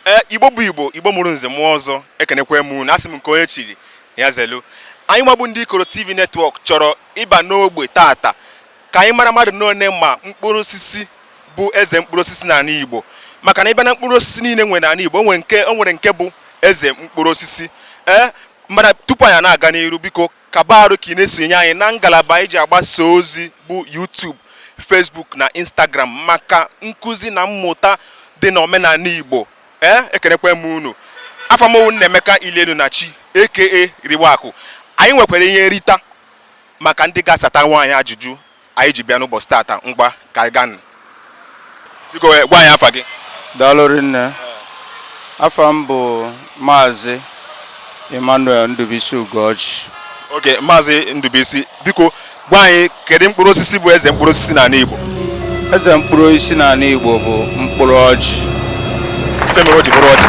ee igbo bụ igbo igbo mụrụ nze mụọ ọzọ ekenekwe m unu asị m nke onye chiri ya zelu anyị nwa bụ ndị ikoro tv netwọk chọrọ ịba n'ogbe tata ka anyị mara mmadụ n'one ma mkpụrụ osisi bụ eze mkpụrụ osisi n'anị igbo maka na ị bịa na mkpụrụ osisi niile e nwere n'anị igbo o nwere nke bụ eze mkpụrụ osisi ee Mana tupu anyị na-aga n'iru biko kaba arụ ka ị na-esonye anyị na ngalaba anyị ji agbasa ozi bụ YouTube, Facebook na Instagram maka nkụzi na mmụta dị na omenanị Igbo ee ekenekwe m unu afa m wụ Nnaemeka Ilienu na chi aka Riwakụ anyị nwekwara ihe nrita maka ndị ga-asatanwu anyị ajụjụ anyị ji bịa n'ụbọchị tata ngwa ka anyị gaanụ biko eh, gwa anyị afa gị daalụ rinne afa m bụ maazị emmanuel ndubisi ugoji okay maazị ndubisi biko gwa anyị kedu mkpụrụ osisi bụ eze mkpụrụ osisi n'anị igbo eze mkpụrụ osisi n'anị igbo bụ mkpụrụ ọjị ife mere o ji bụrụ ọjị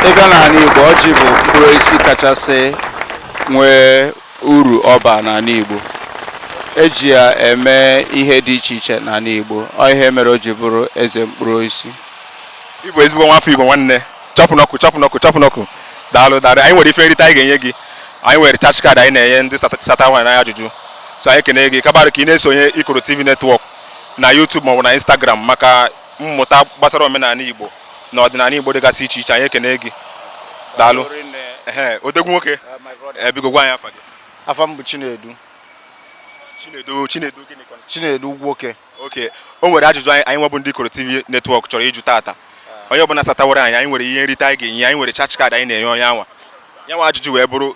ị bịa n'anị igbo ọjị bụ mkpụrụ osisi kachasị nwee uru ọ baa n'anị Igbo e ji ya eme ihe dị iche iche n'anị Igbo ọ ihe mere o ji bụrụ eze mkpụrụ osisi ị bụ ezigbo nwafọ Igbo nwanne chop knuckle chop knuckle chop knuckle daalụ daalụ anyị nwere ife nrite anyị ga-enye gị anyị nwere charge card anyị na-enye ndị satanwu anyị ajụjụ so anyị ekene gị kaba arụ ka ị na-esonye Ikoro TV netwọk na YouTube maọbụ na Instagram maka mmụta gbasara omenanị Igbo na ọdịnanị Igbo dịgasị iche iche anyị ekene gị daalụ odogwu nwoke eh, biko gwa anyị afa gị afa m bụ Chinedu Chinedu Chinedu gịnị Chinedu Nwoke okay o nwere ajụjụ anyị anyị nwa bụ ndị Ikoro TV netwọk chọrọ ịjụ tata ah. onye ọbụla satanwuru anyị anyị nwere ihe nrite anyị ga-enye anyị nwere charge card anyị na-enye onye anwa ya nwa ajụjụ wee bụrụ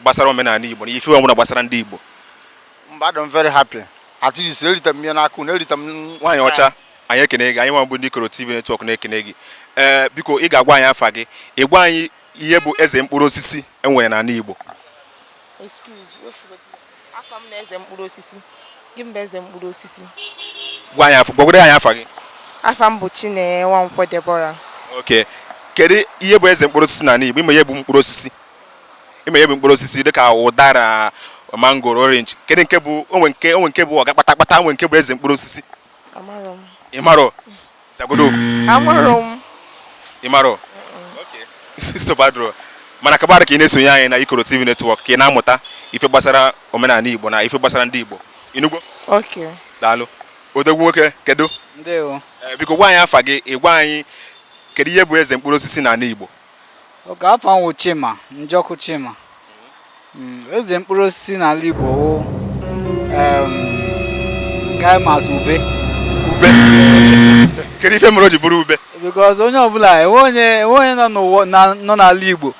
gbasara omenanị Igbo na ife ọbụla gbasara ndị Igbo mba I'm very happy at least erita m ihe n'aka unu erita m nwaanyị ọcha anyị ekene gị anyị nwa bụ ndị Ikoro TV netwọk na-ekene gị ee biko ị ga-agwa anyị afa gị ị gwa anyị ihe bụ eze mkpụrụ osisi e nwere n'anị Igbo afa m na eze mkpụrụ osisi gị mba eze mkpụrụ osisi gwa anyị afa gwagodo anyị afa gị afa m bụ Chinenye Nwankwo Deborah okay kedu ihe bụ eze mkpụrụ osisi n'anị Igbo ị ma ihe bụ mkpụrụ osisi ị ma ihe bụ mkpụrụ osisi dịka ụdara mangoro orange kedu nke bụ o nwe nke o nwe nke bụ ọga kpata kpata o nwe nke bụ eze mkpụrụ osisi Amarọ m. ị marọ sagodo ofu Amarọ m. ị marọ nsogbu adịrọ mana kaba arụ ka ị na-esonye anyị na ikoro tv netwọk ka ị na-amụta ife gbasara omenanị igbo na ife gbasara ndị igbo ị nụgo Okay. daalụ odogwu nwoke kedu ndewo Eh, biko gwa anyị afa gị ị gwa anyị kedu ihe bụ eze mkpụrụ osisi n'anị igbo Oke afa m wụ Chima, Njọkụ Chima. Mm, Eze mkpụrụ osisi n'ala Igbo wụ em, ga m asị ube. ube kedu ife mere o ji bụrụ ube Because onye ọbụla enwe onye enwe onye nọ n'ụwa na- nọ n'ala Igbo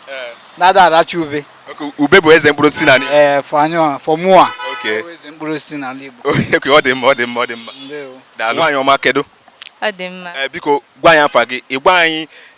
na-ada aracha ube. Oke, ube bụ eze mkpụrụ osisi n'ala Igbo. Ee, for anyụa, for mụa. Okay. Wụ Eze mkpụrụ osisi n'ala Igbo. Oke, ọ dị mma ọ dị mma ọ dị mma Ndewo. daalụ nwaanyị ọma kedu Ọ dị mma. Eh, biko gwa anyị afa gị ị gwa anyị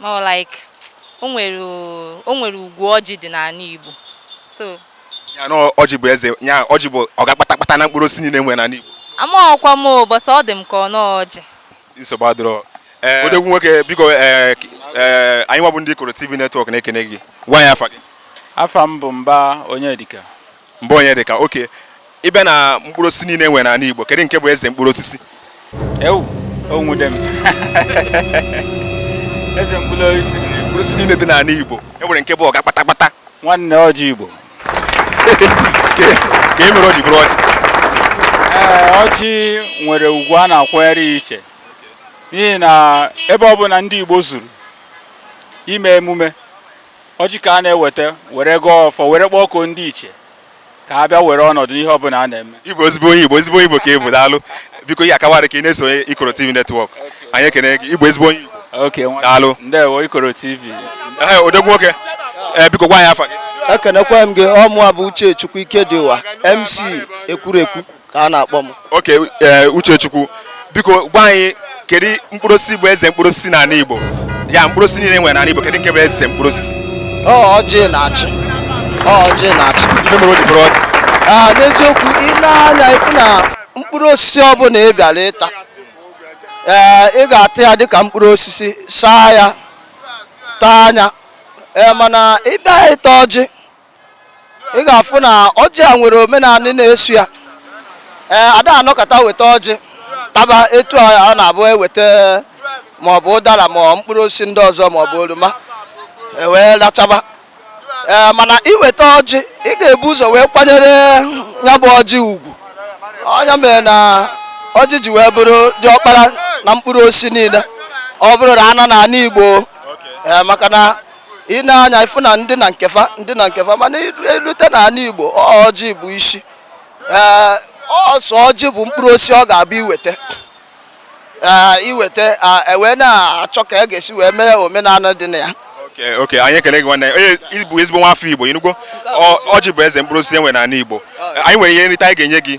More like o nwere o nwere ugwu ọjị dị n'anị Igbo. So Ya na ọjị bụ eze, ya ọjị bụ ọga kpatakpata na mkpụrụ osisi niile e nwere n'anị Igbo. amaghọkwa m o, but ọ dị m ka ọ nọọ ọjị. Nsogbu adịrọ. Ee, odogwu nwoke biko ee, k- ee, anyị nwa bụ ndị Ikoro TV Network na-ekene gị. Gwa anyị afa gị. afa m bụ Mba Onyedịka Mba Onyedịka, oke ị bịa na mkpụrụ osisi niile e nwere n'anị Igbo kedu nke bụ eze mkpụrụ osisi? Ewu, o nwude m. Eze mkpụrụ osisi. Mkpụrụ osisi niile dị n'anị Igbo e nwere nke bụ ọga kpatakpata. Nwanne ọjị Igbo. Kee ihe mere o ji bụrụ ọjị. Ee, ọjị nwere ugwu a na-akwanyere ya iche n'ihi na ebe ọ bụla ndị Igbo zuru ime emume ọjị ka a na-eweta were gọọ ọfọ were kpọkuo ndị ichie ka ha bịa were ọnọdụ n'ihe ọbụla a na-eme Ị bụ ezigbo onye Igbo ezigbo onye Igbo ka ị bụ daalụ biko ya akawara ka ị na-esonye Ikoro TV Network anyị ekene gị ị bụ ezigbo onye Igbo oke nwa daalụ ndewo Ikoro TV Ehe, odogwu nwoke ee biko gwa anyị afa gị ekenekwa m gị ọ mụwa bụ Uchechukwu Ikedịụwa MC Ekwurekwu ka a na-akpọ m oke e, Uchechukwu biko gwa anyị kedu mkpụrụ osisi bụ eze mkpụrụ osisi n'anị Igbo ya mkpụrụ osisi niile e nwere n'anị Igbo kedu nke bụ eze mkpụrụ osisi ọ ọjị na-achị ọ ọjị na-achị ife mere o ji bụrụ ọjị Ah, n'eziokwu i nee anya ị fụ na mkpụrụ osisi ọbụla ị bịara ịta ee ị ga-ata ya dịka mkpụrụ osisi saa ya taa nya ee mana ị bịa ịta ọjị ị ga-afụ na ọjị a nwere omenanị na-eso ya ee a da anọkata weta ọjị taba etu ọ na-abụ e weta ma ọ bụ ụdala ma ọ mkpụrụ osisi ndị ọzọ ma ọ bụ oroma e wee lachaba ee mana i weta ọjị ị ga-ebu ụzọ wee kwanyere ya bụ ọjị ugwu ọ nya mere na ọjị ji wee bụrụ diọkpara na mkpụrụ osisi niile ọ bụrụ na a nọ n'anị Igbo maka na i nee anya ị fụ na ndị na nke fa ndị na nke fa mana e lute na anị Igbo ọjị bụ isi ee ọ sọ ọjị bụ mkpụrụ osisi ọ ga-abụ i weta ee i weta e wee na-achọ ka e ga-esi wee mee omenanị dị na ya oke anyị ekele gị nwanne onye ị bụ ezigbo nwa afọ Igbo ị nụgo ọjị bụ eze mkpụrụ osisi e nwe n'anị Igbo anyị nwere ihe nrite anyị ga-enye gị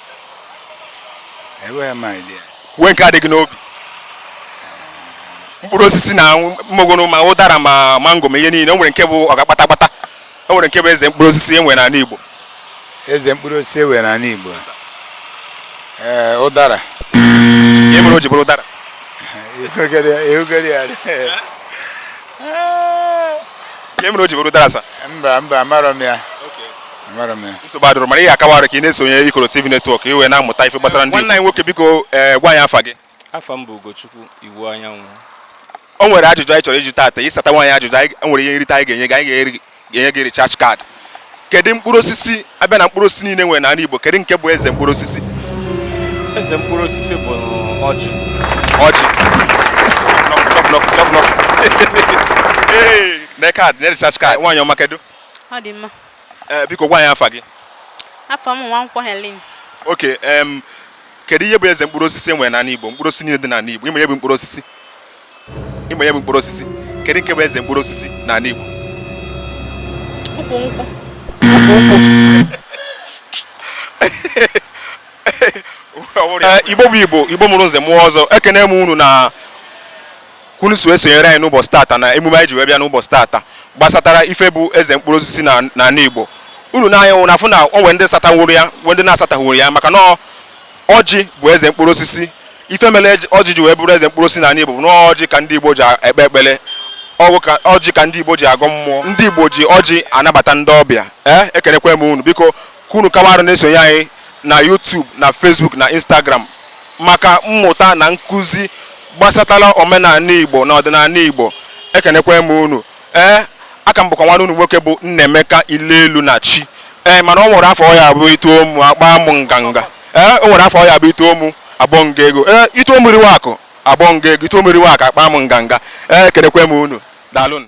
enweghị m idea kwuo nke a dị gị n'obi mkpụrụ osisi na mmogoro ma ụdara ma mango ma ihe niile o nwere nke bụ ọga kpata kpata o nwere nke bụ eze mkpụrụ osisi e nwere n'ala Igbo eze mkpụrụ osisi e nwere n'ala Igbo ee ụdara ihe mere o ji bụrụ ụdara ihe mere o ji bụrụ ụdara sa mba mba amarọ m ya nsogbu adịrọ mana ihe akawa arụ ka ị na-esonye Ikoro TV network i wee na-amụta ife gbasara ndị nwanne anyị nwoke biko ee eh, gwa anyị afa gị afa m bụ Ugochukwu Iwuanyanwụ o nwere ajụjụ anyị chọrọ ịjụ gị taata ị satanwuo anyị ajụjụ anyị nwere ihe nrite anyị ga-enye gị anyị ga-enye gị recharge card kedu mkpụrụ osisi a bịa na mkpụrụ osisi niile e nwere n'ala Igbo kedu nke bụ eze mkpụrụ osisi eze mkpụrụ osisi bụ ọjị ọjị na card na recharge card nwaanyị ọma kedu ee eh, biko gwa anyị afa gị afa m Nwankwọ Helen okay em kedu ihe bụ eze mkpụrụ osisi e nwere n'ala Igbo mkpụrụ osisi niile dị n'ala Igbo ị ma ihe bụ mkpụrụ osisi ị ma ihe bụ mkpụrụ osisi kedu nke bụ eze mkpụrụ osisi n'ala Igbo ukwu nkwụ Eh, igbo bụ igbo igbo mụrụ nze mụọ ọzọ ekene m unu na ka unu so esonyere anyị n'ụbọchị tata na emume anyị ji wee bịa n'ụbọchị tata gbasatara ife bụ eze mkpụrụ osisi na n'ala igbo unu na-anya nwụ na-afụ na o nwee ndị satanwuru ya nwee ndị na-asatanwurọ ya maka na ọjị bụ eze mkpụrụ osisi ife mere ọjị ji wee bụrụ eze mkpụrụ osisi n'ala igbo bụ na ọjị ka ndị igbo ji ekpe ekpere ọ bụkwa ọjị ka ndị igbo ji agọ mmụọ ndị igbo ji ọjị anabata ndị ọbịa ee eh, ekenekwe m unu biko ka unu kawa arụ na-esonye anyị na YouTube na Facebook na Instagram maka mmụta na nkụzi gbasatara omenala Igbo na ọdịnala Igbo ekenekwa m unu ee aka m bụkwa nwanne unu nwoke bụ Nnaemeka Ilelu na chi ee mana o nwere afa ọ ya-abụ i too mụ akpa m nganga ee o nwere afa ọ ya-abụ i too mụ agbaa m gị ego ee i too mụ riwe akụ agbaa m gị ego i too mụ riwe akụ akpa m nganga ee ekenekwa m unu daalụnụ